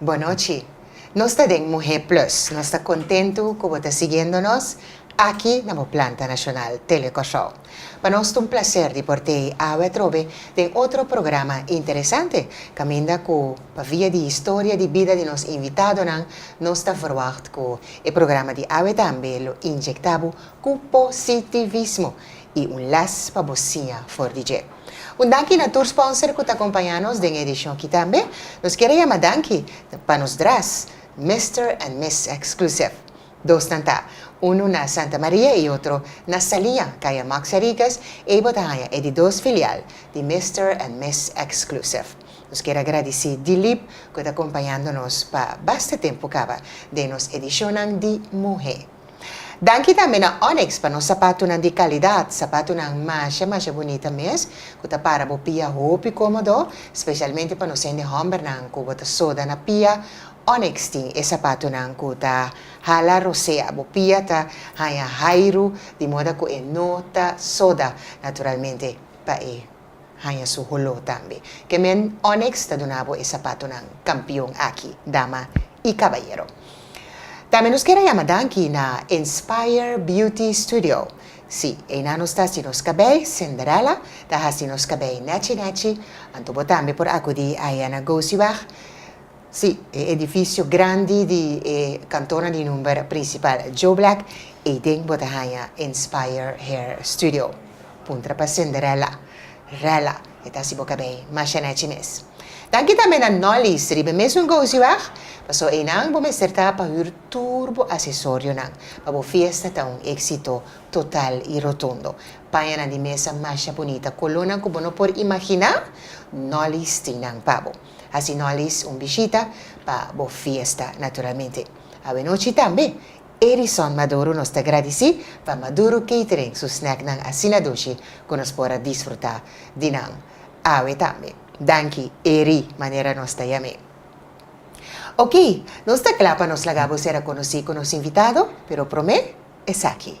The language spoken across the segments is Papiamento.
Bonochi. Nos ta den Muhé Plus. Nos ta kontentu ku bo ta siguiendo nos aki na bo planta nacional, Tele Kòrsou. Pa nos ta un plaser di por tei awe atrobe den otro programa interesante, kaminda ku pa via di historia di bida di nos invitadonan nos ta verwagt ku e programa di awe tambe lo inyekta bo ku positivismo i un les pa bo siña for di dje. Un danki na tur sponsor ku ta kompañá nos den e edishon ki tambe. Nos kere yama danki pa nos dres, Mister and Miss Exclusive. Dosnan ta, unu na Santa Maria i otro na Saliña, kaya Maxia Ricas, ei bo ta haña e di dos filial di Mister and Miss Exclusive. Nos kere a gradisí Dilip ku ta kompañando nos pa basta tempu kaba den nos edishonnan di Muhé. Danki tambe na Onyx pa nos sapatunan di kalidat, sapatunan masha masha bunita mes ku ta para bo pia hopi komodo, spesialmente pa nos hende hòmbernan ku bo ta soda na pia, Onyx tin e sapatunan ku ta hala rosea, bo pia ta haña hairu di moda ku e no ta soda naturalmente pa e. Haña su holó tambe. Kemen Onyx ta duna bo e sapatonan kampion aki, dama i kabayero. Tambe nos kier a yama danki na Inspire Beauty Studio. Sí, einan nos ta hasi nos kabei, Cinderella ta hasi nos kabei nèchi nèchi, anto bo tambe por akudí aya na Gooseweg. Sí, e edifisio grandi di e kantornan di number prinsipal Joe Black, ei den bo ta haña Inspire Hair Studio. Puntra pa Cinderella, Rella, e ta hasi bo kabei masha nechi mes. Danki tambe na Nolly's riba e mesun gousio wèg, paso einan bo mester ta pa hür tur bo asesorionan pa bo fiesta ta un éksito total i rotundo. Paña nan di mesa masha bunita, kolónan ku bo no por imaginá, Nolly's tin nan pa bo. Hasi no alis un bishita pa bo fiesta naturalmente. Awenochi tambe Edison Maduro nos ta gradisí pa Maduro Catering su snacknan asina dushi ku nos por a disfrutá di nan awe tambe. Danki Eri manera nos ta yam'é. Oke, nos ta kla pa nos laga bo ser a konosí ku nos invitado, pero promé esaki.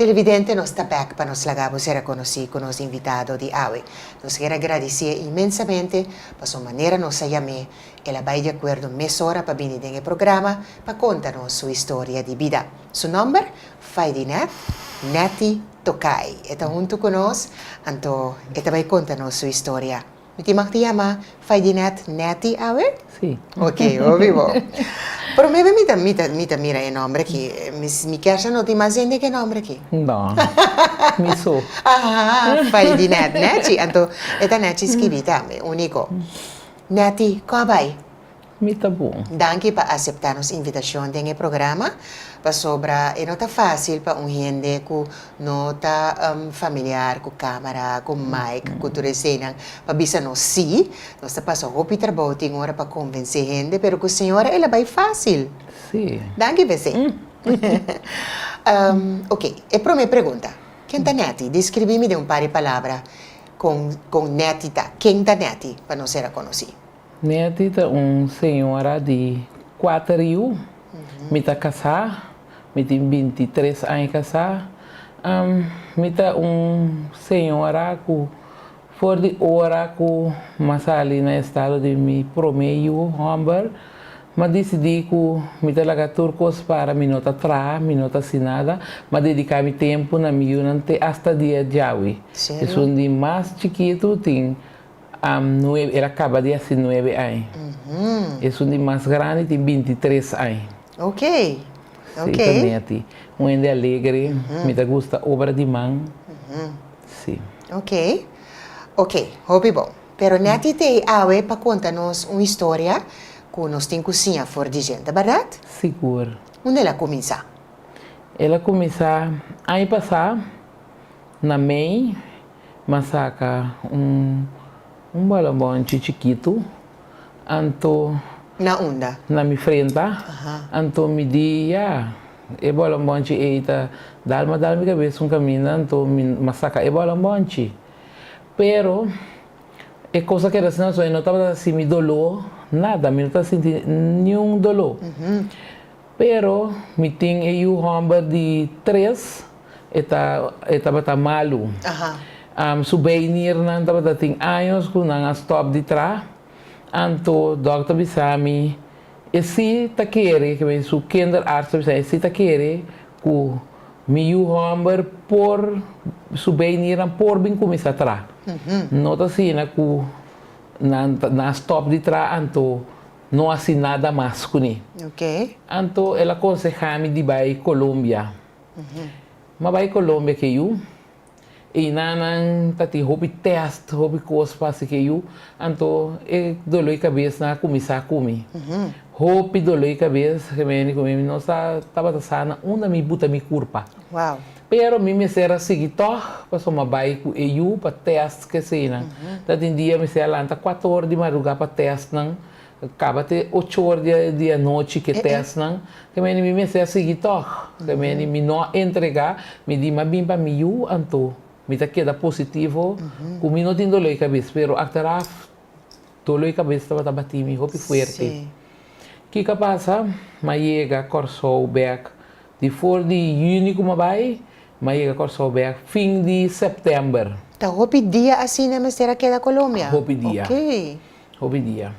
Televidente nos ta bek pa nos laga bo sera konosí ku nos invitado di awe. Nos kier a gradisié inmensamente paso manera nos a yam'é el a bai di akuerdo mesora pa bini den e programa pa konta nos su historia di bida. Su nòmber? Faidinet Netty Tokay. E ta huntu ku nos, anto e ta bai konta nos su historia. Mi tin mag ti yama Faidinet Netty awe? Sí. Ok, hopi bo. Prome be mi ta mi ta mi ta mira e nomber aki, mi mi kersha no tin mas hende ke nomber aki. No. Mi su. Aha, Faidinet Netty, anto e ta Netty skibi tambe, uniko. Netty, kua bai? mi ta bon. Danki pa aseptá nos invitashon den e programa, pasobra e no ta fásil pa un hende ku no ta familiar ku kámara, ku mic, ku tur eseinan pa bisa nos sí. Nos ta pasa hopi trabou tin ora pa konvensé hende, pero ku señora el a bai fásil. Danki pa esei. Oke, e promé pregunta. Ken ta Netty? Deskribí mi den un par di palabra kon kon Netty ta. Ken ta Netty pa nos ser a konosí? Netty ta un señora di kuater yu. Mi ta kasá, mi tin binti i tres aña kasá. Mi ta un señora ku for di ora ku mi a sali na estado di mi promé yu hòmber, mi a disidí ku mi ta laga tur kos para mi no ta traha, mi no ta hasi nada, mi a dediká mi tempu na mi yunan te asta dia djawi. Esun di mas chikitu tin. Am nuebe, el a kaba di hasi nuebe aña. Esun di mas grandi tin binti tres aña. Ok, ok. Si, ta Netty. Un hende alegre, mi ta gusta obra di man. Si. Ok, ok. Hopi bon. Pero Netty ta ei awe pa konta nos un historia ku nos tin ku siña for di djenta, bardad? Sigur. Unda el a kuminsá? El a kuminsá aña pasá. Na mei m'a saka un balonbònchi chikitu, anto. Na unda? Na mi frenta. Anto mi di, Ya, e balonbònchi ei ta dal. M'a dal mi kabes un kaminda, anto mi m'a saka e balonbònchi. Pero e kos a keda asina pasobra mi no tabata ta sinti doló, nada. Mi no ta sinti niun doló. Pero mi tin e yu homber di tres, e ta, e tabata malu. Su beinirnan tabata tin años cu nan a stop di tra. Anto dokter bisa mi, e si ta kere, que mi su kinderarts ta bisa mi, e si ta kere cu mi yu homber por, su beinirnan por bin cuminsa tra. No ta asina cu nan, nan a stop di tra, anto No hasi nada mas cu ni. Anto el a conseha mi di bay Colombia. M'a bay Colombia ke yu. Eyna nan ta tin hopi test, hopi cos pa haci ke yu. Anto e dolor di cabesnan a cuminsa cu mi. Hopi dolor di cabes, ke mi a yende cu mi, mi no sa tabata sana unda mi buta mi curpa. Pero mi mester a sigui tòg, pasobra m'a bai ku e yu pa tèst keseinan. Ta tin dia mester a lanta kuater or di marugá pa tèstnan, kaba te ocho or di anochi ku e tèstnan. Ke mene mi mester a sigui tòg. Ke mene mi no a entregá, mi di m'a bin pa mi yu anto. Mi ta keda positivo ku mi no tin doló di kabes, pero akteraf doló di kabes tabata batí mi hopi fuerte. Kiko a pasa? M'a yega Kòrsou bèk. Di for di Juni ku m'a bai, m'a yega Kòrsou bèk fin di Sèptèmber. Ta hopi dia asina e mester a keda Colombia? Hopi dia. Ok. Hopi dia.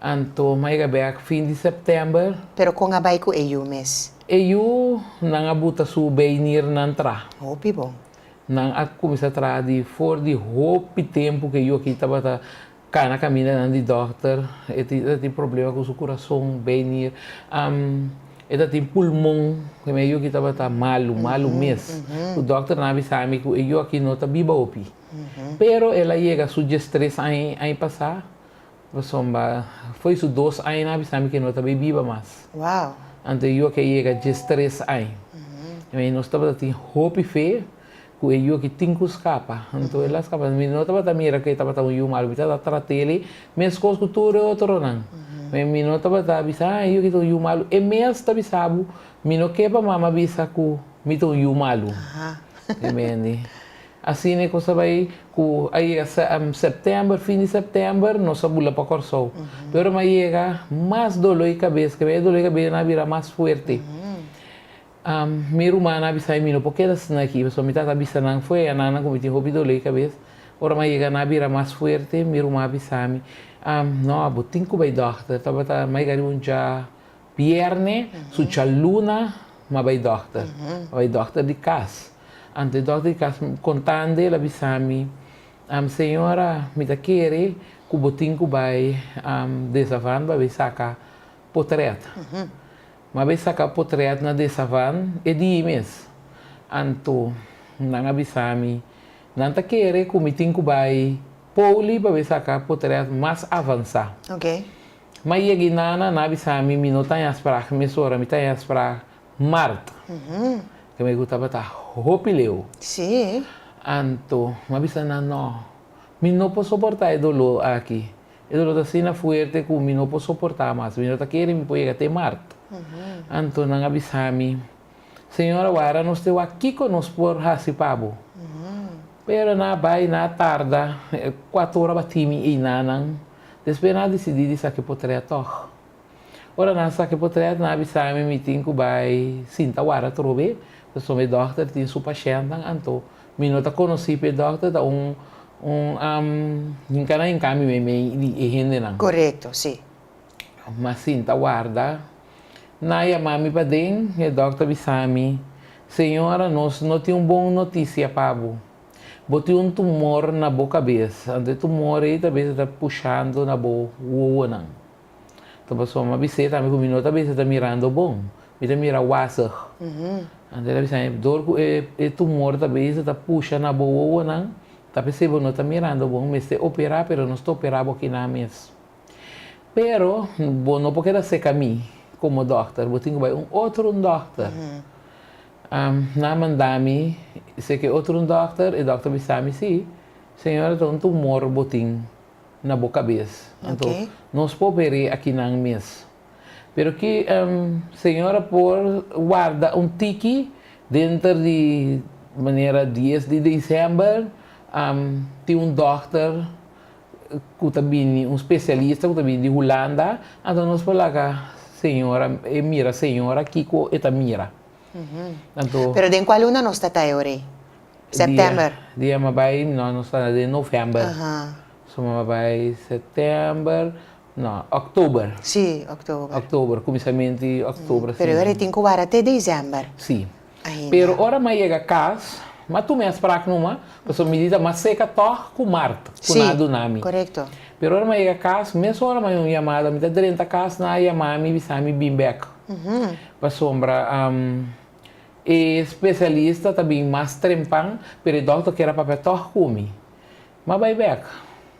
Anto m'a yega bèk fin di Sèptèmber. Pero kon a bai ku e yu mes? E yu nan a buta su beinirnan tra. Hopi bon. Nan a kuminsá traha di for di hopi tempu ku e yu aki tabata Cana caminda nan di dokter, e ta tin problema cu su curason, beinir. E ta tin pulmon, cu mi ayoki tabata malu, malu mes. Cu dokternan a bisa mi cu e yoki no ta biba hopi. Pero el a yega su dies tres aña e aña pasa, pasobra fo'i su dos aña nan a bisa mi cu e no ta bay biba mas. Anto e yoki a yega dies tres aña. Mi y nos tabata tin hopi fe, Ku e yu aki tin ku skapa. Anto el a skapa. Mi no tabata mira ku e tabata un yu malu. Mi tabata trata el e meskos ku tur e otronan. Me mi no tabata bisa, ah e yu aki ta un yu malu. E mes ta bisa bo, Mi no ke pa mama bisa ku mi ta un yu malu. Mi mendi. Asina e kosa bai ku a yega sèptèmber, fin di sèptèmber, nos a bula pa Kòrsou. Pe ora mi a yega, mas doló i kabes, ke bai e doló i kabes nan a bira mas fuerte. Mi rumannan a bisa'i mi no por keda asina aki, pasobra mi tata a bisa nan fue a nannan ku mi tin hopi dolé kabes. Ora mi a yega nan a bira mas fuerte, mi ruman a bisa mi, No, bo tin ku bai dòkter. Tabata mai gari un dja bièrnè, su dja luna mi a bai dòkter. A bai dòkter di kas. Anto e dòkter di kas kontandi el a bisa mi, Señora, mi ta kere ku bo tin ku bai Desavan pa bai saka potrèt. M'a be saka potrèt na Desavan e día mes. Anto nan a bisa mi, nan ta kere ku mi tin ku bai Pouli pa be saka potrèt mas avansá. M'a yega i nana, nan a bisa mi, mi no ta haña sprag mesora, mi ta haña sprag mart, ke mi gusta bata hopi leu. Anto m'a bisa nan, Nò, mi no por soportá e doló aki. E dolor ta asina fuerte cu mi no por soporta mas. Mi no ta kere mi por yega te Mart. Anto nan a bisa mi, Señora, wara nos te wak kico nos por haci pa bo. Pero nan a bay, nan a tarda, cuato ora batimi eynanan. Despues nan a dicidi di sa ki potrea tog. Ora nan sa ke potret nan a bisa mi mi tin ku bai sinta wara trobe paso mi dokter tin su pashèntnan anto mi no ta konosí p'e dokter ta un un am hinka nan hinká mi meimei di e hendenan. Korekto si. Mas sinta warda nan a yamá mi paden i e dokter a bisa mi señora nos no tin un bon notisia pa bo bo tin un tumor na bo kabes anto e tumor ei ta bes ta pushando na bo wowonan. Ta paso ma bi se tambe cu mi no ta bisa ta mirando bon. Mi ta mira wazig. Anto el a bisa mi, dor cu e tumor ta bisa ta pusha na bo wowonan, ta p'esey bo no ta mirando bon, mester opera, pero nos ta opera bo aki nan mes. Pero bo no por keda seca mi como dokter, bo tin cu bai un otro dokter. Nan manda mi seca e otro dokter, e dokter a bisa mi, si, señora ta un tumor bo tin. na bo kabes. Anto nos por peri akinan mes. Pero ki Señor a por warda un tiki denter di manera dies di december tin un dòkter ku ta bini, un spesialista ku ta bini di Hulanda, anto nos por laga Señor e mira Señor a kiko e ta mira. Pero den kua luna nos ta ta e orei? September. Dia ma bai no nos ta na den november. So ma bai september no october. Si october. October cuminsament di october. Pero e tin cu wara te december. Si. Pero ora ma yega cas ma tuma e sprak numa pasobra mi di ta mas seca tog cu mart cu nan a duna mi. Correcto. Pero ora ma yega cas mes ora ma un yamada mi ta drenta cas nan a yama mi bisa mi bin bek pasobra. E specialista ta bin mas trempan, pero e dokter kier a papia tog cu mi. M'a bay bek.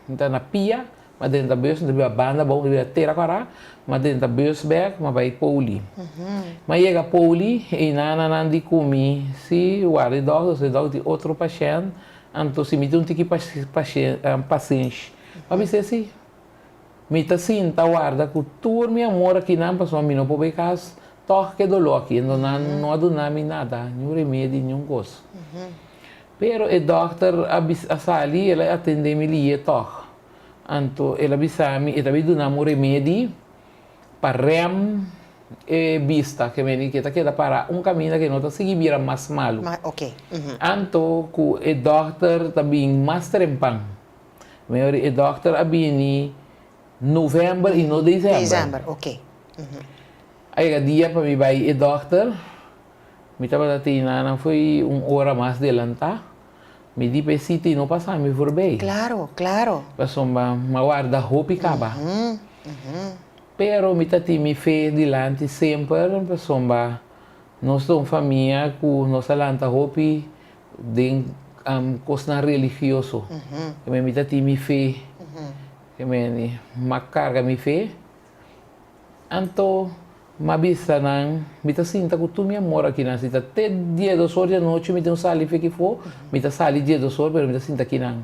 N'ta na pia, m'a drenta bus, n'ta biba banda bou, n'ta biba tera cuara, m'a drenta bus bek, m'a bay Pouli. M'a yega Pouli, e nananan di cu mi, Si, warda e dokter, si e dokter tin otro pashent, anto si mi tin un tiki pasensh. M'a bisa e si. Mi ta sinta warda cu tur mi amor aki nan pasobra mi no por bay cas tog cu e dolor aki endo nan no a duna mi nada, ni un remedi ni un cos. Pero e dokter a bisa a sali el a atende mi liye tog anto el a bisa mi e ta bay dunami un remedi pa rem e bista cu meni cu e ta keda para un caminda cu e no ta sigui bira mas malu anto cu e dokter ta bin mas trempan. Mi ori e dokter a bini november y no december. December, ok. A yega dia pa mi bay e dokter. Mi tabata te Inanan fo'i un hora mas delanta. Mi di pa e cita y no pasa mi for bay. Claro, claro. Pasobra m'a warda hopi caba. Pero mi ta tin mi fe dilanti semper pasobra nos ta un famia cu nos a lanta hopi Den kosnan religioso keme mi ta tin mi fe, keme ma karga mi fe, anto ma bisa nan mi ta sinta ku tur mi amor akinan si ta te dies dos or di anochi mi tin ku sali fe kiko mi ta sali dies dos or pero mi ta sinta kinan.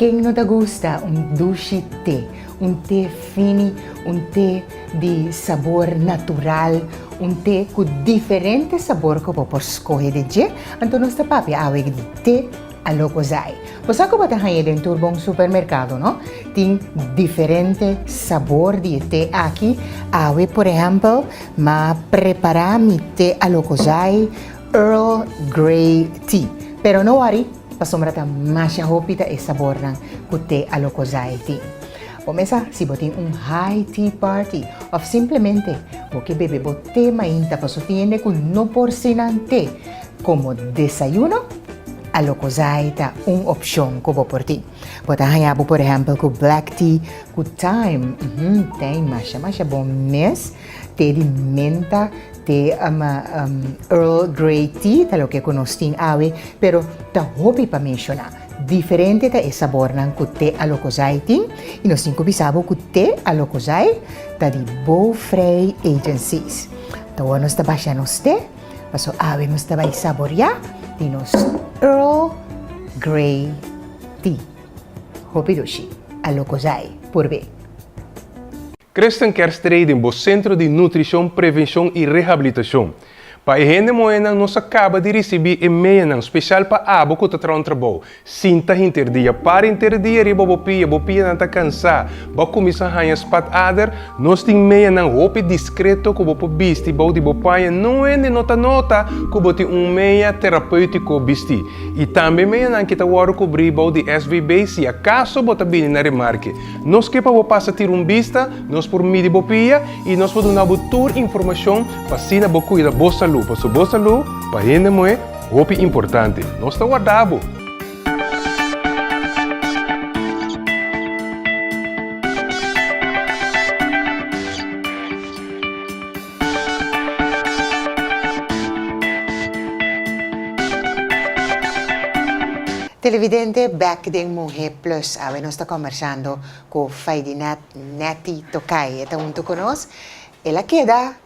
Ken no ta gusta un dushi te, un te fini, un te di sabor natural, un te ku diferente sabor ku bo por skohe di dje? Anto nos ta papia awe di te Alocozay. Bo sa ku bo ta haña den tur bon supermerkado, no? Tin diferente sabor di e te aki. Awe, por ehèmpel, m'a prepará mi te Alocozay. Earl Grey Tea, pero no wori pasobra ta masha hopi ta e sabornan ku te Alocozay tin. Bo mesa si bo tin un high tea party òf simplemente bo ke bebe bo te mainta pa su tiende ku no por sinan te komo desayuno, Alocozay ta un opshon ku bo por tin. Bo ta haña bo por ehèmpel ku black tea ku thyme, hm, tei masha masha bon mes. Te di menta, te Earl Grey tea, ta loke ku nos tin awe, pero ta hopi pa menshoná. Diferente ta e sabornan ku te Alokosai tin i nos tin ku bisa bo ku te Alokosai ta di Bow Frei Agencies. Tahowa nos ta basha nos te, paso awe nos ta bai saboriá di nos Earl Grey tea. Hopi dushi. Alokosai. Purbe. Kristen kier strei den bo Sentro di Nutrishon, Prevenshon i Rehabilitashon. Pa e hende moenan nos a kaba di risibí e meanan, speshal pa abo ku ta traha un trabou. Sinta henter dia, para henter dia riba bo pia, bo pianan ta kansá, bo a kuminsá haña spatader. Nos tin meanan hopi diskreto ku bo por bisti bou di bo paña nuhende no ta nota ku bo tin un mea terapéutiko bistí. I tambe meanan ki ta wòrdu kubrí bou di SVB si akaso bo ta bini na remarke. Nos ke pa bo pasa tira un bista, nos por midi bo pia i nos por duna bo tur informashon pa asina bo kuida bo salú, pasobra bo salú pa hende muhé hopi importante. Nos ta warda bo! Televidente bek den Muhé Plus awe nos ta kombersando ku Faidinet Netty Tokay e ta huntu ku nos el a keda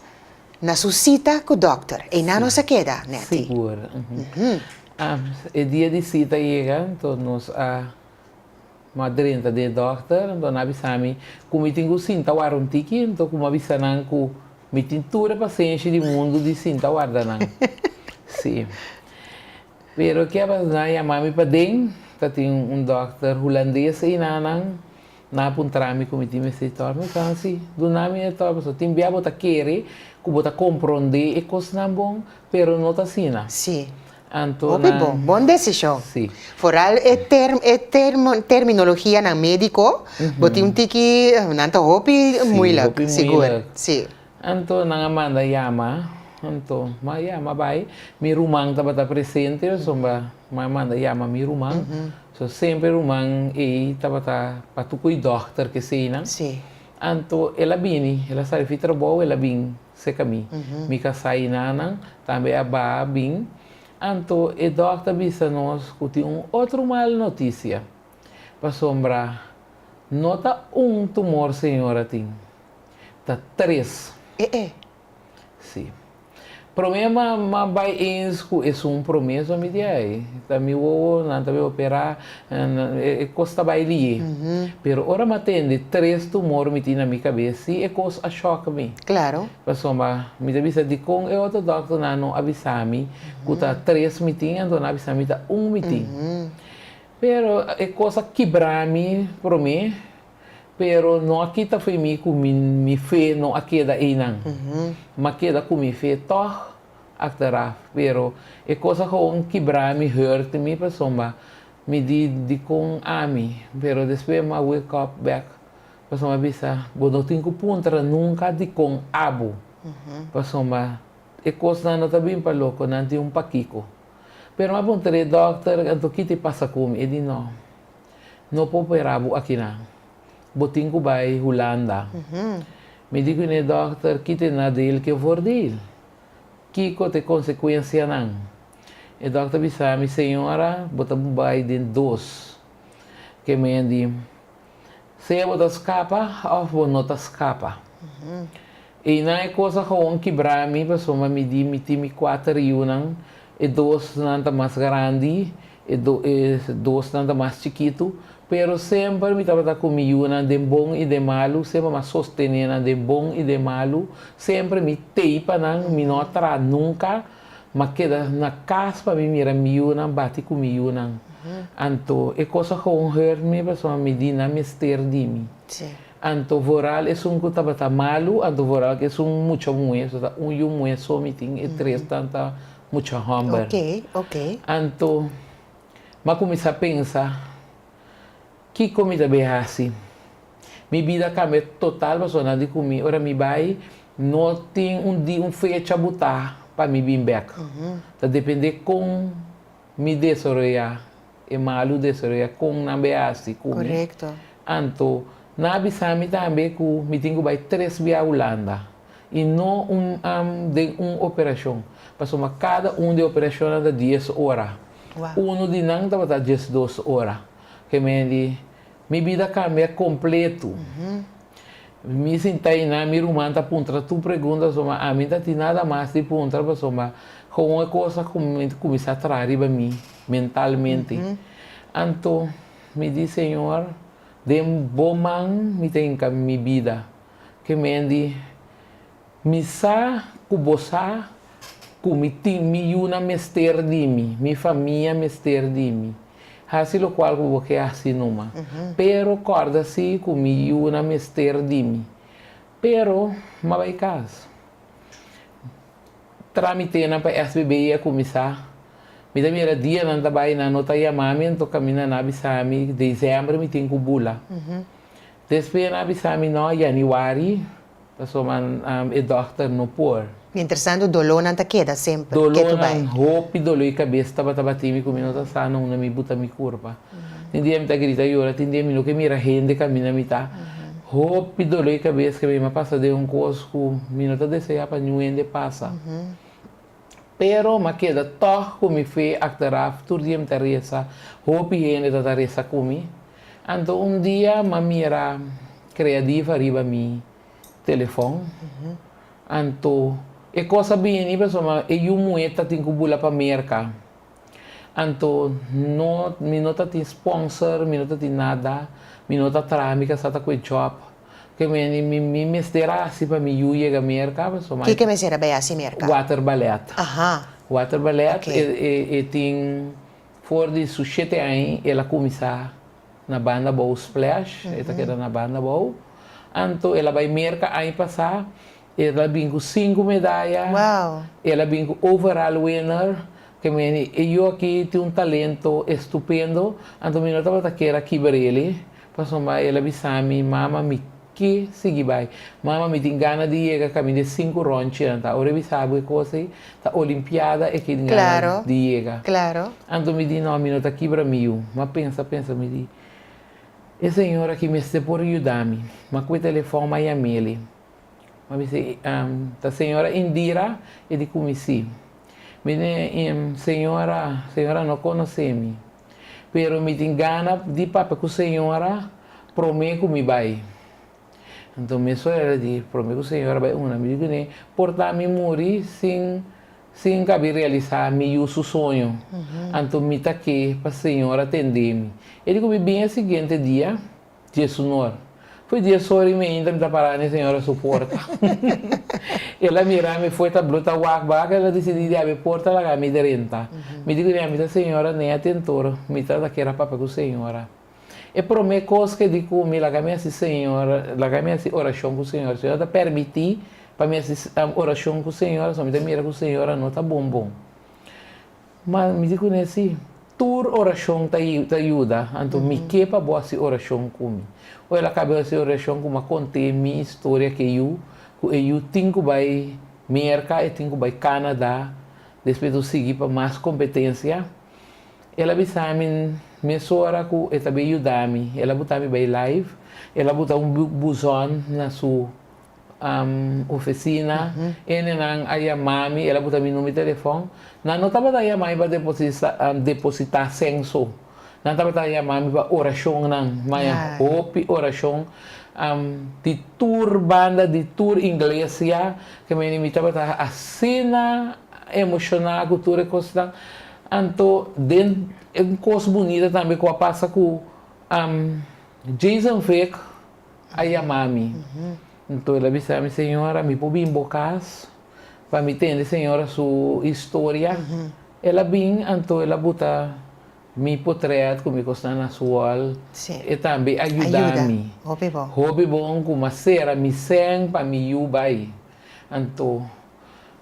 na su sita ku dokter einan nos a keda Netty. Sigur. E dia di sita a yega entos nos a. M'a drenta di e dòkter, anto nan a bisa mi ku mi tin ku sinta wara un tiki, anto ku m'a bisa nan ku mi tin tur e pasenshi di mundu di sinta warda nan. Sí. Pero ke a bas nan a yama mi paden, ta tin un dòkter hulandes einan, nan a puntra mi ku mi tin mester tòrba. Mi fala, Sí, duna mi e tòrba, pasobra tin bia bo ta kere ku bo ta komprondé e kosnan bon, pero no ta asina. Sí. Hopi bo. Bon desishon. Foral e terminologianan médiko, bo tin un tiki, nan ta hopi muilak, sigur. Sí. Anto nan a manda yama. Anto m'a yama bai. Mi ruman tabata presente, pasobra m'a manda yama mi ruman. So, semper ruman ei tabata pa tukuy dòkter, keseinan. Anto el a bini, el a sali fi trabou, el a bin. seka mi. Mi ka sa i na nan, tambe a baha bin. Anto e dòkter bisa nos ku tin un otro mal notisia. Pasobra no ta un tumor señora tin, ta tres. E e! Si. Promé ma ma bai eens ku esun promé, so mi di ai ta mi wowo, nan ta bin operá, E kos ta bai liye. Pero ora mi a tende tres tumor mití na mi kabes, sí e kos a shòk mi. Pasobra mi ta bisa dikon e otro dòkternan no a bisa mi ku ta tres mi tin, anto nan a bisa mi ta un mi tin. Pero e kos a kibra mi promé, pero no a kita fo'i mi ku mi fe no a keda einan. Mi a keda ku mi fe tòg. achteraf pero e cos a gewoon kibra mi hurt mi pasobra mi di dicon ami pero despues mi a wake up back pasobra a bisa bo no tin cu puntra nunca dicon abo pasobra e cosnan no ta bin pa loco nan tin un pakico pero mi a puntra e doctor anto kiti pasa cu mi e di no no por operabo akinan Bo tin cu bay Hulanda. Mi di cu ne dokter, ki t'e nadeel cu e for di? Kico t'e consecuencianan? E dokter bisa mi, Señora, bo ta bay den dos kemen di, sea bo ta scapa of bo no ta scapa. Einan e kos a gewoon kibrá mi pasobra mi di mi tin mi kuater yunan, e dosnan ta mas garandi, e dosnan ta mas chikitu, pero semper mi tabata ku mi yunan den bon i den malu, semper mi a sostené nan den bon i den malu, semper mi tei pa nan, mi no a traha nunka, mi a keda na kas pa mi mira mi yunan, bati ku mi yunan. Anto e kos a gewoon hurt mi pasobra mi di nan mester di mi. Anto vooral esun ku tabata malu, anto vooral ku esun mucha muhé, so ta un yu muhé so mi tin, e tres tan ta mucha hòmber. Oké, oké. Anto m'a kuminsá pensa, Kiko mi ta bai hasi? Mi bida kambia total pasobra nan di ku mi, ora mi bai, no tin un di, un fecha butá pa mi bin bèk. Ta dependé kon mi desaroyá e malu desaroya con nan be haci cu mi, anto nan a bisa mi tambe cu mi tin cu bay tres bia Hulanda y no un den un operacion, pasobra cada un di e operacionnan ta dies ora, uno di nan tabata diesdos ora, ke men di Mi bida kambia kompletu. Mi sinta einan, mi ruman ta puntra tur pregunta, pasobra ami no ta tin nada mas di puntra, pasobra houn e kosa kuminsá traha riba mi mentalmente. Anto mi di, Señor, den bo man mi ta hinka mi bida. Ke mendi. Mi sa ku bo sa ku mi tin mi yunan mester di mi, mi famia mester di mi. Hasi lokual ku bo ke hasi numa. Pero kòrda si ku mi yunan mester di mi. Pero mi a bai kas. Trámitenan pa SBB a kuminsá. Mi ta mira dia nan ta bai, nan no ta yamá mi anto kaminda nan a bisa mi desèmbr mi tin ku bula. Despues nan a bisa mi, nò, yaniwari. Pasobra e dòkter no por. Mientras tanto dolónan ta keda semper ketu bai. Dolónan, hopi doló i kabes tabata batí mi ku mi no ta sana unda mi buta mi kurpa. Tin dia mi ta grita yora, tin dia mi no ke mira hende kaminda mi ta. Hopi doló i kabes ke mi a pasa den un kos ku mi no ta deseá pa niun hende pasa. Pero m'a keda tòg ku mi fe achteraf tur dia mi ta resa, hopi hende ta ta resa ku mi. Anto un dia m'a mira kreadif ariba mi telefòn. Anto e kos a bini pasobra e yu muhé ta tin ku bula pa Merka. Anto no mi no ta tin spònser, mi no ta tin nada, mi no ta traha mi kasa ta ku e jòb. Ke meni mi mester a hasi pa mi yu yega Merka? Kiko e mester a bai hasi Merka? Water ballet. Water ballet e tin for di su shete aña el a kuminsá na banda abou Splash, e ta keda na banda abou. Anto el a bai Merka aña pasá. El a bin ku sinku medaya. El a bin ku overall winner. Ke mi di, E yu aki tin un talento estupendo. Anto mi no tabata kier a kiba di el. Pasobra el a bisa mi, Mama, mi ke sigui bai. Mama, mi tin gana di yega kaminda e sinku rònchi. Anta ora e bisa bo e kos ei, ta Olimpiada e ke tin gana di yega. Anto mi di, No, mi no ta kibra mi yu. Mi a pensa, pensa, mi di, E señor aki mester por yuda mi. Mi a kue telefòn, mi a yam'e. Bo mi si, Em ta señora Indira e di ku mi si. Mi di, Em señora, señora no konosé mi. Pero mi tin gana di papia ku señora promé ku mi bai. Anto mesun el a di, Promé ku señora bai una. Mi di kuné, Por ta mi muri sin sin kabi realisá mi yu su soño. Anto mi ta ke pa señora tendé mi. E di ku mi bin e siguiente dia. Dje sunor. Fue dies ora y mi ainda mi ta pará n'e señora su porta. El a mirá mi fue ta blota wak ba, el a decidí di abé porta laga mi drenta. Mi di cu nia mi ta señora n'e atentor, mi ta ta kier a papia cu señora. E prome cos ke di cu mi laga mi haci señora, laga mi haci oracion cu señora. Señora ta permití pa mi haci oracion cu señora, so mi ta mira cu señora no ta bon bon. Ma mi di kuné sí, tur orashon ta yuda, anto mi ke pa bo hasi orashon ku mi. Ku el a kaba hasi orashon ku mi, a kont'é mi historia ku e yu, ku e yu tin ku bai Merka, e tin ku bai Kanada, despues nos sigui pa mas kompetensia. El a bisa mi mesora ku e ta bin yuda mi, el a buta mi bai live, el a buta un buzòn na su ofisina, enenan a yama mi, el a buta mi number di telefon. Nan no tabata yama mi pa depositá senso, nan tabata yama mi pa orashonnan, maya hopi orashon di tur banda, di tur inglesia, ke mene mi tabata asina emoshoná ku tur e kosnan. Anto den un kos bunita tambe ku a pasa ku Jason Vick. a yama mi. Nto el a bisa mi, Señora, mi por bin bo cas pa mi tende señora su historia? El a bin, anto el a buta mi potret cu mi cosnan na su wall. E tambe a yuda mi hopi bon cu m'a cera mi seng pa mi yu bay. Anto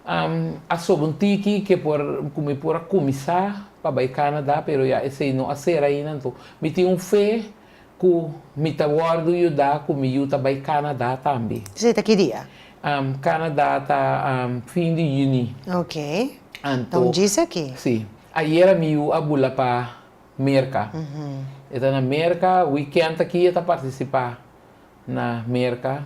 a soba un tiki que por cu mi por a cuminsa pa bay Canada, pero ya esey no a cera ainda. Anto mi tin un fe. Ku mi ta wòrdu yuda ku mi yu ta bai Canada tambi. Esei ta ki dia? Canada ta fin di Juni. Ok. Ta un djis aki. Si. Ayera mi yu a bula pa Merka. E ta na Merka. Weekend aki e ta partisipa na Merka.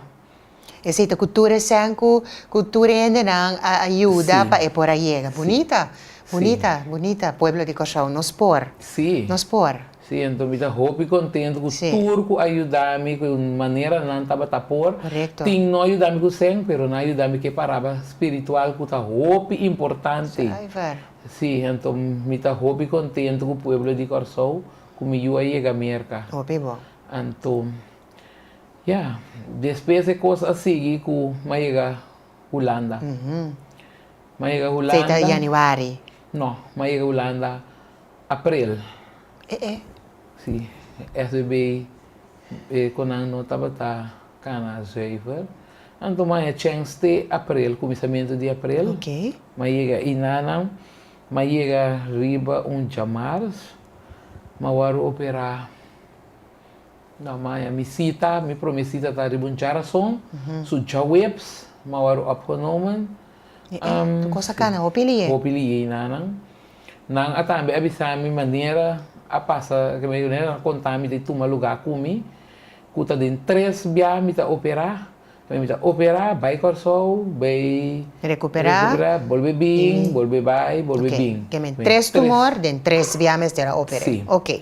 Esei ta ku tur esèn ku ku tur e hendenan a a yuda si. pa e por a yega. Bunita. Si. Bunita. Si. Bunita. Pueblo di Kòrsou, nos por. Si. Nos por. Si, enton mi ta hopi kontentu ku Si. tur ku a yuda mi ku e manera nan tabata por. Korekto. Tin no a yuda mi ku sèn, pero nan a yuda mi ku e paraba spiritual ku ta hopi importante. Suiver. Si, enton mi ta hopi kontentu ku pueblo di Kòrsou ku mi yu a yega Merka. Hopi bon. Anto. Ya, despues e cos a sigui cu m'a yega Hulanda. M'a yega Hulanda. Sei ta Januari? No, m'a yega Hulanda April. E e. Si, SBB e cu nan no tabata cana zuiver. Anto m'a e chens te April, cuminsamentu di April. Ok. M'a yega ahi na nan. M'a yega riba un djamars. M'a wor opera. Nau maña mi sita, mi prome sita ta riba un djarason, su djaweps, ma wòrdu opgenomen. E e, tu kos a kana hopi lié? Hopi lié i nanan. Nan a tambe a bisa mi manera a pasa, ke manera nan a konta mi ta tuma lugá ku mi, ku ta den tres bia mi ta operá. Tambe mi ta operá, bai Kòrsou, bai. Rekuperá. Rekuperá, bolbe bin, bolbe bai, bolbe bin. Oké, ke men tres tumor den tres bia mester a oper'é. Sí. Oké.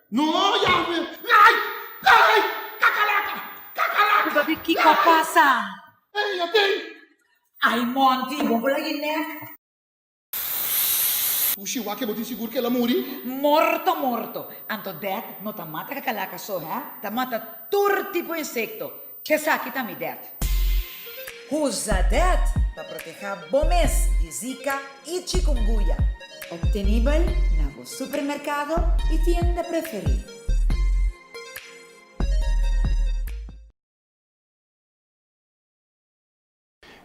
No, Yahwe! Lei! Lei! Kakalaka! Kakalaka! Bo ta di kiko a pasa. Lei! Ei, a tei! Ai Monty, bo bula e nek. Ushi, wak e bo tin sigur ku el a muri? Morto morto. Anto dèt no ta mata kakalaka so, hè? Ta mata tur tipo insekto. Esaki ta mi det. Usa det pa proteha bo mes di Zika i Chikunguya. Optenibel na bo supermerkado i tienda preferí.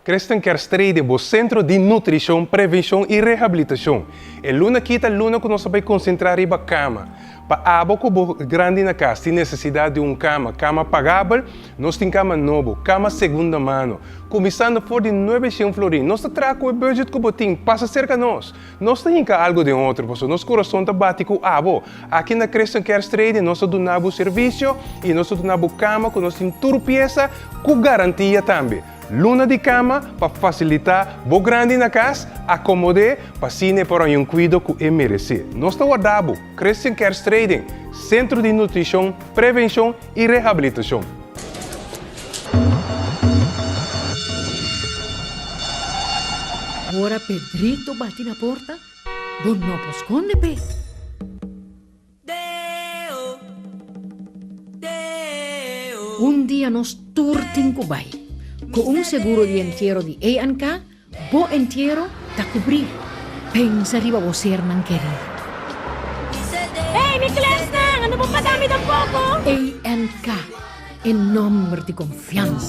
Christian Kerstrede, bo Centro di Nutricion, Prevencion y Rehabilitacion. E luna aki ta luna cu nos ta bay concentra riba cama. Pa abo cu bo grandi na cas tin necesidad di un cama, cama pagabel, nos tin cama nobo, cama segunda mano, cuminsando for di nuebe cien florin. Nos ta traha cu e budget cu bo tin. Pasa cerca nos. Nos ta hinka algu den otro, pasobra nos kurason ta bati ku abo. Aki na Christian Cares Trading nos ta duna bo servisio i nos ta duna bo kama ku nos tin tur piesa ku garantia tambe. Luna di kama pa fasilitá bo grandi na kas, akomod'é pa asina e por haña un kuido ku e meresé. Nos ta wardá bo. Christian Cares Trading, Sentro di Nutrishon, Prevenshon i rehabilitashon. Ora Pedrito bati na porta, bo no por skonde p'e. Un dia nos tur tin ku bai. Ku un seguro di entiero di A&K. Bo entiero ta kubrí. Pensa riba bo sernan kerí. Hey mi klèsnan, ando bo pagá mi den poko. ANK, e nòmber di konfiansa.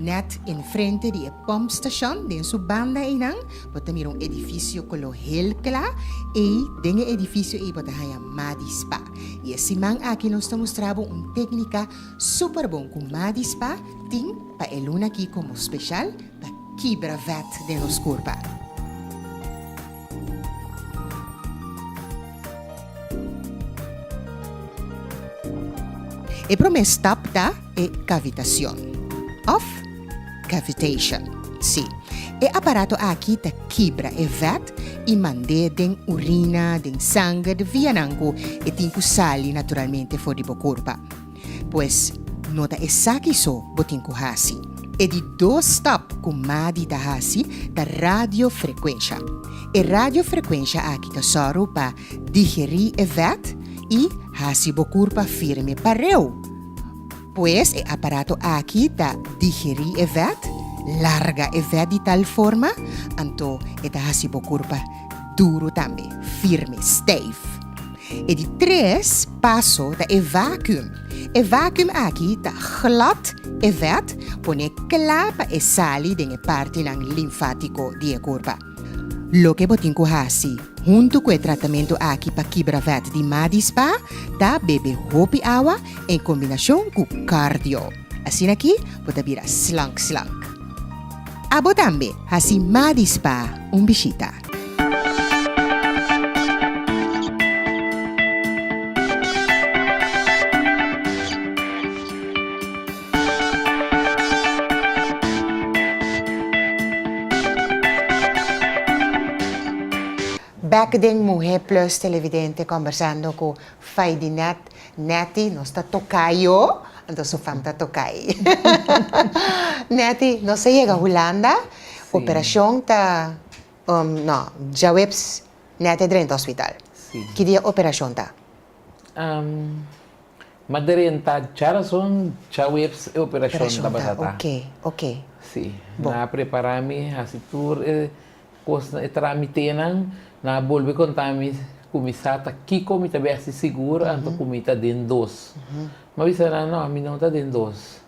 Nèt enfrente di e pòmpstashon, den su banda einan, bo ta mira un edifisio koló hel kla. Ei, den e edifisio ei bo ta haña Madi Spa. I e siman aki nos ta mustra bo un téknika súper bon ku Madi Spa tin pa e luna akí komo speshal pa kibra vèt den nos kurpa. E promé stap ta e kavitacion of cavitation. Sí, e aparato aki ta kibra e vèt i mand'é den urina, den sanger, de vianan ku e tin ku sali naturalmente for di bo kurpa. Pues, no ta esaki so bo tin ku hasi. E di dos stap ku Madi ta hasi ta radiofrekuensha. E radiofrekuensha aki ta sòru pa digerí e vèt i hasi bo kurpa firme pareu. Pues e aparato aki ta digerí e vèt, larga e vèt di tal forma, anto e ta hasi bo kurpa duru tambe, firme, stijf. E di tres paso ta e vacuum. E vacuum aki ta glat e vèt, pone kla pa e sali den e partinan linfático di e kurpa. Loke bo tin ku hasi huntu ku e tratamentu aki pa kibra vèt di ma dispá ta bebe hopi awa en kombinashon ku cardio. Asin'aki bo ta bira slank slank. Abo tambe hasi Madis pa un bishita. Bek den Muhé Plus Televidente Kombersando ku Faidinet Netty, nos ta tokay yo, anto su fam ta tokay. Netty, nos a yega Hulanda, operashon ta, um, no, djaweps Netty a drenta hospital. Ki dia operashon ta? Um, m'a drenta djarazon, djaweps e operashon ta basa ta. Operashon ta, oke, oke. Si, nan a prepara mi, hasi tur e Kosnan e trámitenan, nan a bolbe kontá mi ku mi sa ta kiko mi ta bèsti sigur anto ku mi ta den dos. Mi a bisa nan, No, mi no ta den dos.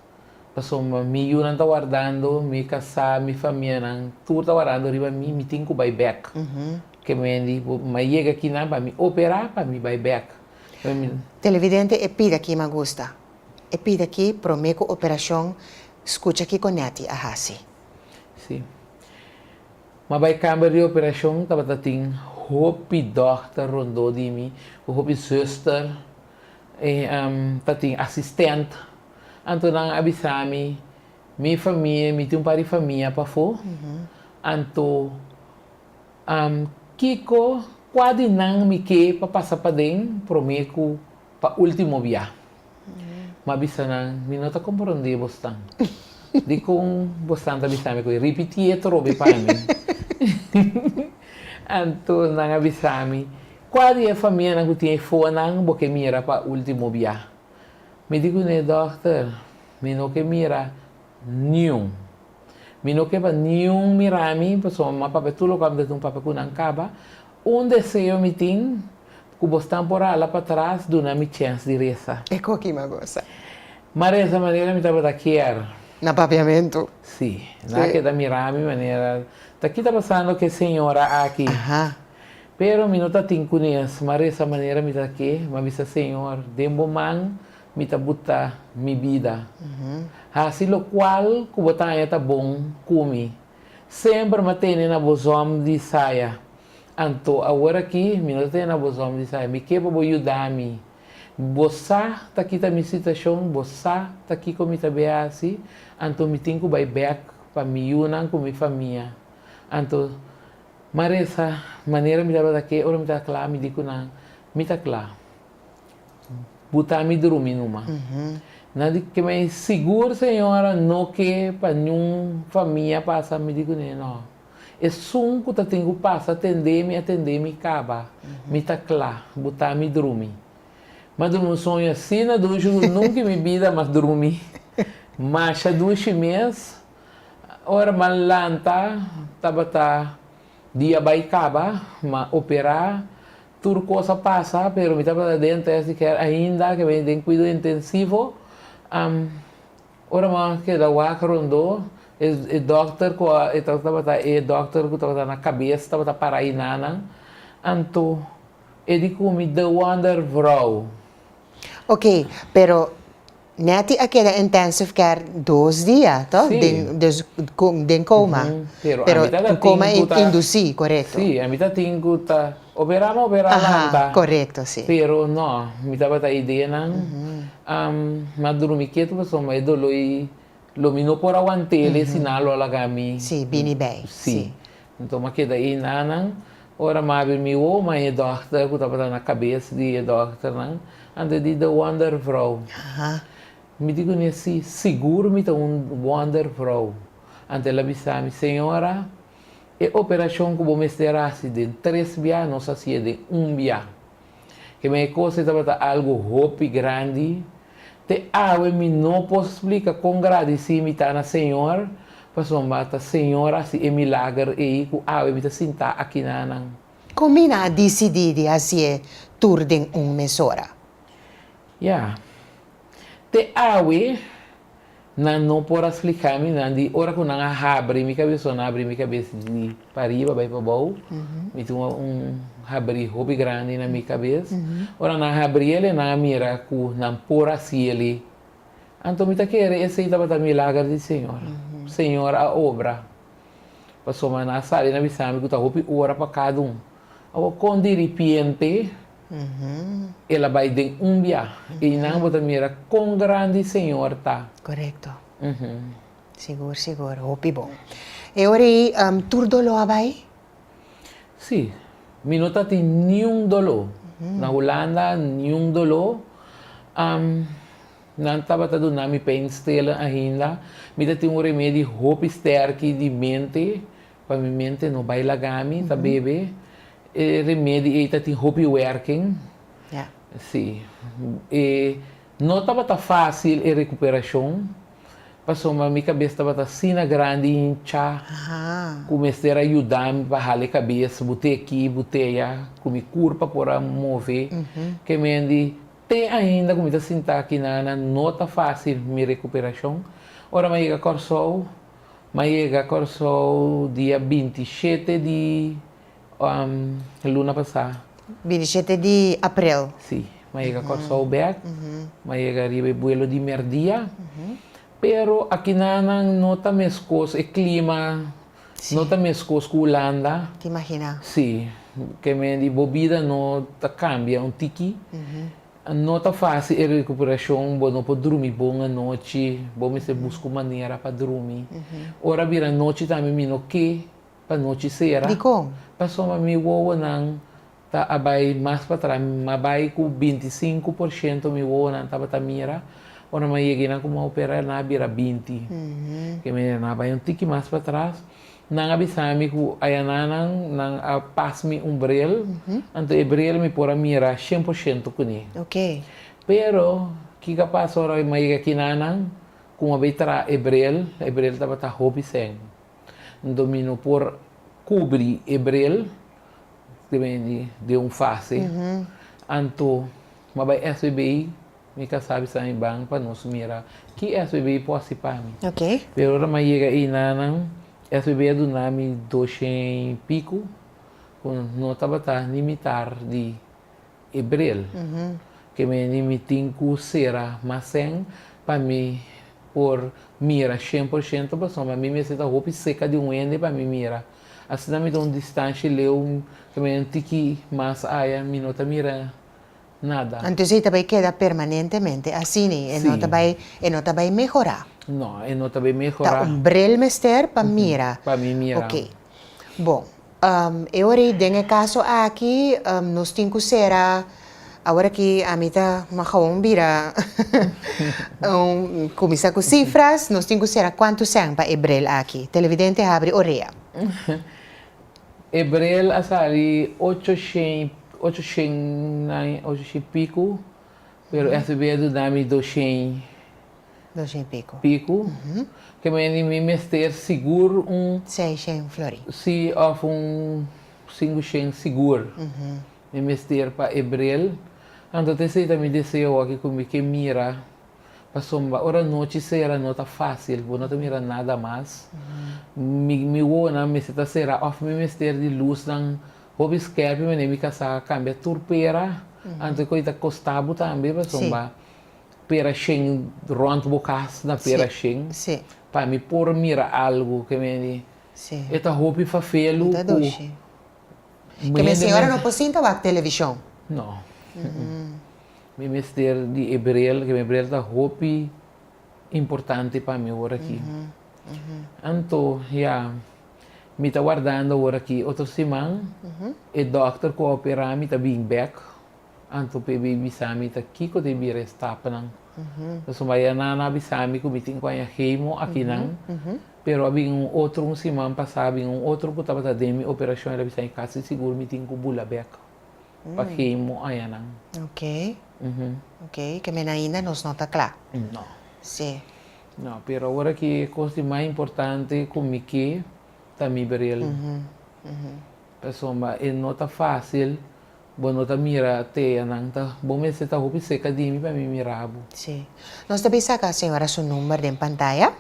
Pasobra mi yunan ta wardando, mi kasá, mi famianan tur ta wardando riba mi, mi tin ku bai bèk. Ke mendi bo mai yega aki nan pa mi operá pa mi bai bèk. Televidente, e pida aki mi a gusta. E pida aki promé ku operashon skucha kiko Netty a hasi. Sí. Ma bai kamber di operashon tabata tin hopi dòkter rondó di mi ku hopi zuster i ta tin asistent. Anto nan a bisa mi, mi famia, mi tin un par di famia pafó, anto kiko, kua di nan mi ke pa pasa paden promé ku pa último biaha? M'a bisa nan, Mi no ta komprondé bosnan. Dikon bosnan ta bisa mi ku e ripitié atrobe pa mi? Anto nan a bisa mi, Kua di e famianan ku tin e foanan bo ke mira pa último bia? Mi di kuné, Dòkter, mi no ke mira niun. Mi no ke pa niun mira mi, pasobra mi mama papia tur loke mi ta tin un papia ku nan kaba. Un deseo mi tin, Cu bo stan por hala pa tras duna mi chens di resa. E co ki ma gosa. Ma resa manera mi tabata kier. Na papiamento. Si. Na keda mira mi manera. Ta ki ta pasando cu e señora aki. Aha. Pero mi no ta tin cu nes. Ma resa manera mi ta ke. Ma bisa Señor, den bo man mi ta buta mi bida. Haci locual cu bo ta aña ta bon cu mi. Semper ma tene na bo zom di saya. Anto awor aki mi no ta tene na bos hombri sa mi ke pa bo yuda mi. Bo sa ta kita mi situashon, bo sa ta kiko mi ta be hasi, anto mi tin ku bai bèk pa mi yunan ku mi famia. Anto Maresa manera mi tabata ke ora mi ta kla mi di ku nan, Mi ta kla buta mi drumi numa. Nan di ke mei, Sigur señora no ke pa niun famia pasa? Mi di ku ne, No. Esun ku ta tin ku pasa tendé mi a tendé mi kaba, mi ta kla butá mi drumi. Ma drumi un soño asina dushi ku nunka i mi bida mas drumi. Masha dushi mes. Ora m'an lanta tabata dia bai kaba, m'an operá, tur kos a pasa pero mi tabata den tèst di kèr ainda, ke beni den kuido intensivo. Ora mama a keda wak rondó, e dòkter ku e tabata tabata e dòkter ku tabata na kabes tabata para i nanan, anto e di kumi de wonder vrou. Ok, pero Netty a keda intensive care dos dia, to? Sí. Den des den koma. Uhuh, pero ami ta ta tin ku ta. Koma indusí, korekto. Sí, ami ta tin ku ta. Operá mi operá lanta, pero no, mi tabata ideanan, m'a drumi ketu pasobra e doló ei lo mi no por aguant'el, e siná lo a laga mi bini bei. Sí, anto m'a keda ei nanan, ora m'a habri mi woma en e dòkter ku tabata na kabes di e dòkternan, anto e di de wondervrou. Mi di ku mi asi, sigur mi ta un wondervrou, anto el a bisa mi, Señora, E operashon ku bo mester hasi den tres bia nos hasi e den un bia. Keme e kos e tabata algu hopi grandi. Te awe mi no por splika kon gradisí mi ta na Señor pasobra ta Señor hasi e milager ei ku awe mi ta sintá aki nanan. Kon mi na disidí di hasi e tur den un mesora? Ya, te awe Nan no por a spliká mi nan di ora ku nan a habri mi kabes o nan habri mi kabes di pariba bai pa bou, mi tin un habri hopi grandi na mi kabes. Ora nan a habri el i nan a mira ku nan por a hasi el, anto mi ta kere esei tabata milager di Señor. Señor a obra, pasobra nan a sabi, nan a bisa mi ku ta hopi ora pa kada un. Awor kon diripiente. El a bai den un biaha. Einan bo ta mira kon grandi e Señor ta. Korekto. Sigur, sigur. Hopi bon. E ora ei tur doló a bai? Sí. Mi no ta tin niun doló. Na Hulanda, niun doló. Nan tabata duna mi peinstiller ainda. Mi ta tin un remedi hopi stèrki di mente. Pa mi mente no bai laga mi ta bebe e remedi ei ta tin hopi werking si e no tabata facil e recuperacion pasobra mi cabes tabata asina grandi hincha cu mester a yuda mi pa hala e cabes bute aki bute aya cu mi curpa por a move ke mendi te ainda cu mi ta sinta aki nana no ta facil mi recuperacion ora mi a yega Corsou M'a yega Kòrsou dia binti i shete di luna pasá. Binti i shete di aprel. Sí. M'a yega Kòrsou bèk. M'a yega riba e buelo di mèrdia. Pero aki nannan no ta meskos, e klima no ta meskos ku Hulanda. Ta imaginá. Sí. Kende di bo bida no ta kambia un tiki. No ta fásil e rekuperashon, bo no por drumi bon anochi, bo mester buska un manera pa drumi. Ora bira nochi tambe mi no ke pa nochi sera. Dikon? Pasobra mi wowonan ta a bai mas patrás, mi a bai ku binti i sinku por shento mi wowonan tabata mira, ora mi a yega einan ku mi a opera nan a bira binti. Kende nan a bai un tiki mas patrás. Nan a bisa mi ku ayananan nan a pas mi un bril, anto e bril mi por a mira shen por shento kuné. Pero kiko a pasa ora mi a yega kinanan ku mi a bai traha e bril, e bril tabata hopi sèn. Anto mi no por kubri e bril den un fase, anto mi a bai esei bai. Mi ka sabi sa mi ban pa nos mira ki SBB por haci pa mi. Pero ora mi a yega ayi nanan, SBB a duna mi doshén i pico cu no tabata ni mitar di Abril. Ke mene mi tin cu cera másén pa mi por mira shen por shento pasobra mi mester ta hopi seca di un hende pa mi mira. Asina mi ta un distancia leu ke mene un tiki mas aya mi no ta mira. nada. Antes e ta bai keda permanentemente asini, e no ta bai, e no ta bai mehorá. No, e no ta bai mehorá. Ta un brel mester pa mira. Pa mi mira. Ok. Bon, e ora ei den e kaso aki nos tin ku sera, awor aki ami ta kuma gawon bira un kuminsá ku sifras, nos tin ku sera kuantu sèn pa e brel aki? Televidente habri orea. E brel a sali ocho shen, ocho shen nai, ocho shen piku, pero e hasi bedu na mi dos shen Dos shen piku. piku. Ke meni mi mester sigur un, Sei shen flori. si, of un sinku shen sigur mi mester pa e brel. Anto ta esei ta mi deseo aki ku mi ke mira Pasobra ora nochi sera no ta fásil, bo no ta mira nada mas. Mi mi wowonan mester ta será òf mi mester di lusnan hopi skèpi manera mi kasá kambia tur pera antes ku a ta kostá bo tambe pasobra pera shen rònt bo kas na pera shen pa mi por mira algu ke mi di e ta hopi fafelu ku Ke men señora no por sinta wak televishon? No. Mi mester di e brel, ke mi brel ta hopi importante pa mi ora aki. Anto, ya, mi ta wardando ora aki. Otro siman, e dòkter ku a operá mi ta bini bèk. Anto p'e bin bisa mi ta kiko ta e bira e stapnan. Pasobra mi bai Annan a bisa mi ku mi tin ku haña hemo akinan. Pero a bin un otro, un siman pasá a bin un otro ku tabata den mi operashon, el a bisa mi, kasi sigur mi tin ku bula bèk. pa ki muayanan. Ok. Ok. Ke men ainda nos no ta kla. No. Sí. No, pero awor aki e kos di mas importante ku mi ke ta mi ber'el. Pasobra e no ta fásil bo no ta mira teanan ta bo mester ta hopi serka di mi pa mi mira bo. Sí. Nos ta bisa ka señora su number den pantaya.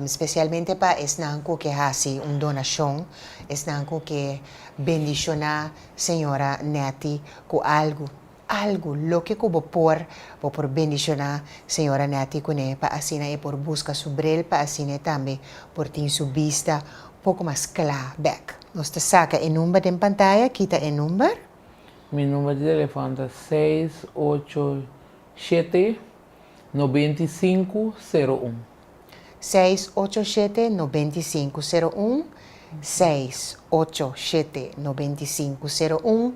Spesialmente pa esnan ku ke hasi un donashon, esnan ku ke bendishoná señora Netty ku algu, algu, loke ku bo por, bo por bendishoná señora Netty kuné pa asina e por buska su brel, pa asina e tambe por tin su bista poku mas kla bèk. Nos ta saka e number den pantaya, kita e number. Mi number di telefòn ta seis ocho shete. 6-9-5-0-1. Seis, ocho, shete, no, beinti, sinku, sero, un, seis, ocho, shete, no, beinti, sinku, sero, un,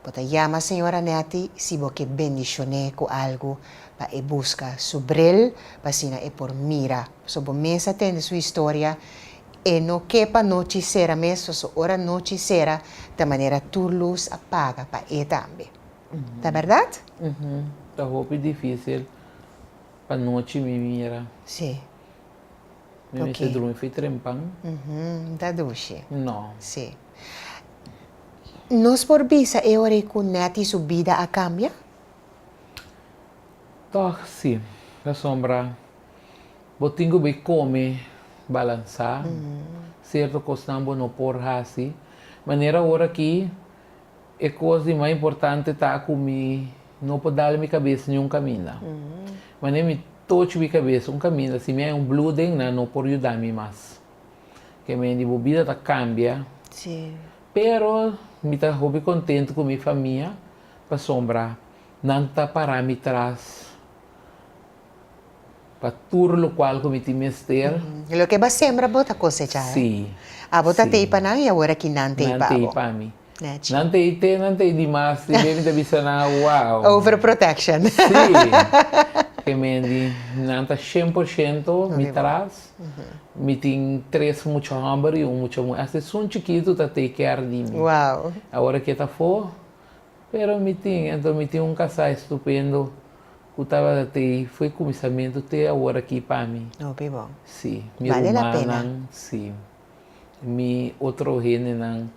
Bo ta yama señora Netty si bo ke bendishoné ku algu pa e buska su bril pa asina e por mira. So bo mes a tende su historia e no ke pa nochi sera mes so so ora nochi sera ta manera tur lus a paga pa e tambe. Ta berdad? Ta hopi difícil pa nochi mi mira. Sí. Mi mester drumi fei trempan. No ta dushi. No. Sí. Nos por bisa e ora ei ku Netty su bida a kambia? Tòg sí. Pasobra bo tin ku bai kome balansá. Sierto kosnan bo no por hasi. Manera ora aki E kos di mai importante ta ku mi no por dal mi kabes niun kaminda. Mane mi toch mi kabes un kaminda si mi hay un blu den nan no por yuda mi mas. Ke men di bo bida ta kambia. Pero mi ta hopi kontentu ku mi famia pasobra nan ta para mi tras pa tur lokual ku mi tin mester. Loke bo a sembra bo ta kosecha. Abo ta tei pa nan i awor aki nan tei pa bo. Nèchi. Nan ta ei te, nan ta ei dimas te beni ta bisa nan awou. Over protection. Sí. Ke men di nan ta shen por shento mi tras, mi tin tres mucha hòmber i un mucha muher. Hasta esun chikitu ta take care di mi. Wow. Awor eke ta afó, pero mi tin. Anto mi tin un kasá estupendo ku tabata te fo e kuminsamentu te awor aki pa mi. Hopi bon. Sí. Mi rumannan, sí. Mi otro hendenan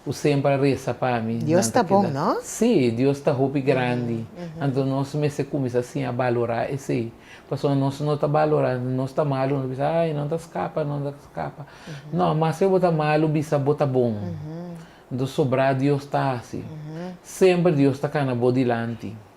ku semper a resa pa mi. Dios ta bon, no? Sí, Dios ta hopi grandi. Anto nos mester kuminsá siña balorá esei. Pasobra nos no ta balorá, nos ta malu, nos ta bisa, Ai, nan ta skapa, nan ta skapa. No, mas ke bo ta malu, bisa bo ta bon. Anto sobrá Dios ta hasi. Semper Dios ta kana bo dilanti.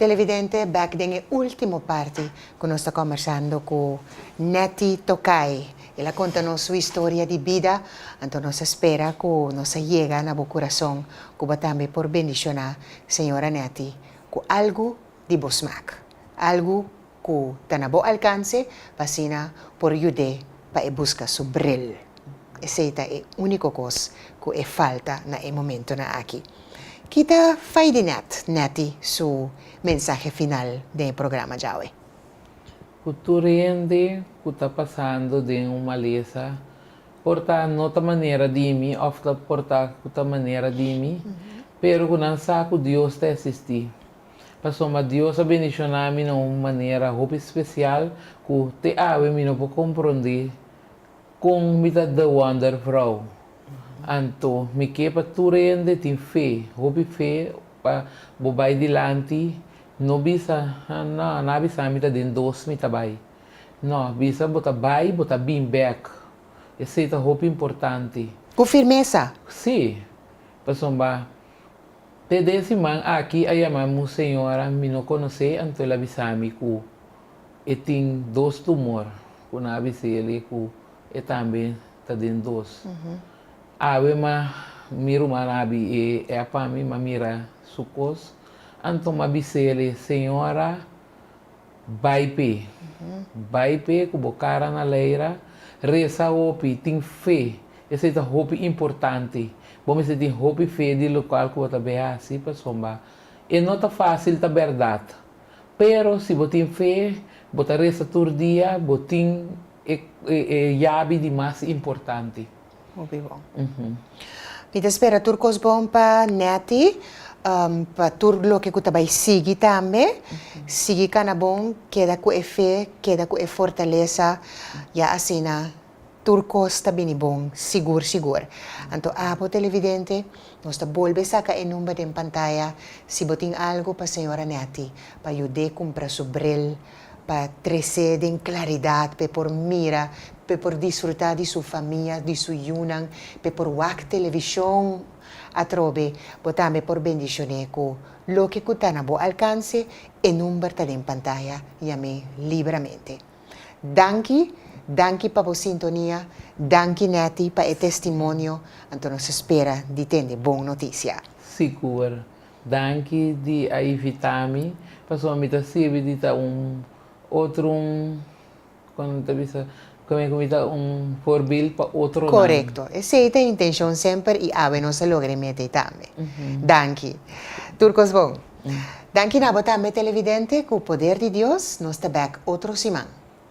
Televidente, bek den e ultimo parti ku nos ta kombersando ku Netty Tokay. El a konta nos su historia di bida, anto nos ta spera ku nos a yega na bo kurason, ku bo tambe por bendishoná Señora Netty, cu algu di bo smaak, algu cu ta na bo alcance pa asina por yud'é pa e busca su bril. Esey ta e unico cos cu e falta na e momentonan aki. Ki ta fai di Net, Netty, su mensahe final den e programa djawe? Cu tur hende cu ta pasando den un malesa. por ta no ta manera di mi of ta por ta ku ta manera di mi, pero ku nan sa ku Dios ta esistí. Pasobra Dios a bendishoná mi na un manera hopi spesial ku te awe mi no por komprondé kon mi ta The Wonder Vrou. Anto mi ke pa tur hende tin fe, hopi fe pa bo bai dilanti, no bisa, ha, no, nan a bisa mi ta den dos mi ta bai. No, bisa bo ta bai, bo ta bin bek. Esei ta hopi importante. Ku firmesa. Sí. Pasobra PD siman aki a yama mi un señora mi no konosé, anto el a bisa mi ku e tin dos tumor, ku nan a bisa eli ku e tambe ta den dos. Awe m'a mi ruman a abi e ep pa mi, m'a mira su kos, anto m'a bisa eli, Señora, Bai p'e. Bai p'e ku bo kara na leira. Resa hopi. Tin fe. Esei ta hopi importante. Bo mester tin hopi fe di lokual ku bo ta bai hasi pasobra e no ta fásil ta bèrdat. Pero si bo tin fe, bo ta resa tur dia, bo tin e yabi di mas importante. Hopi bon. Mi ta spera tur kos bon pa Netty, pa tur loke ku ta bai sigui tambe. Sigui kana bon, keda ku e fe, keda ku e fortalesa, ya asina tur kos ta bini bon sigur sigur. Anto abo televidente, nos ta bolbe saka e number den pantaya si bo tin algu pa señora Netty pa yud'é kumpra su bril. pa tres'é den klaridat p'e por mira, p'e por disfrutá di su famia, di su yunan, p'e por wak televishon. Atrobe, bo tambe por bendishoné ku loke ku ta na bo alkanse, e number ta den pantaya, yam'é libramente. Danki, danki pa bo sintonia, danki Netty pa e testimonio, anto nos spera di tende bon notisia. Sigur, Danki di a ivita mi pasobra mi ta sirbi di ta un otro un como nan ta bisa kome ku mi ta un forbil pa otronan. Korekto. Esei ta e intenshon semper i awe nos a logra e meta ei tambe. Danki. Tur kos bon. Danki na bo tambe televidente ku poder di Dios nos ta bèk otro siman.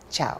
Chao.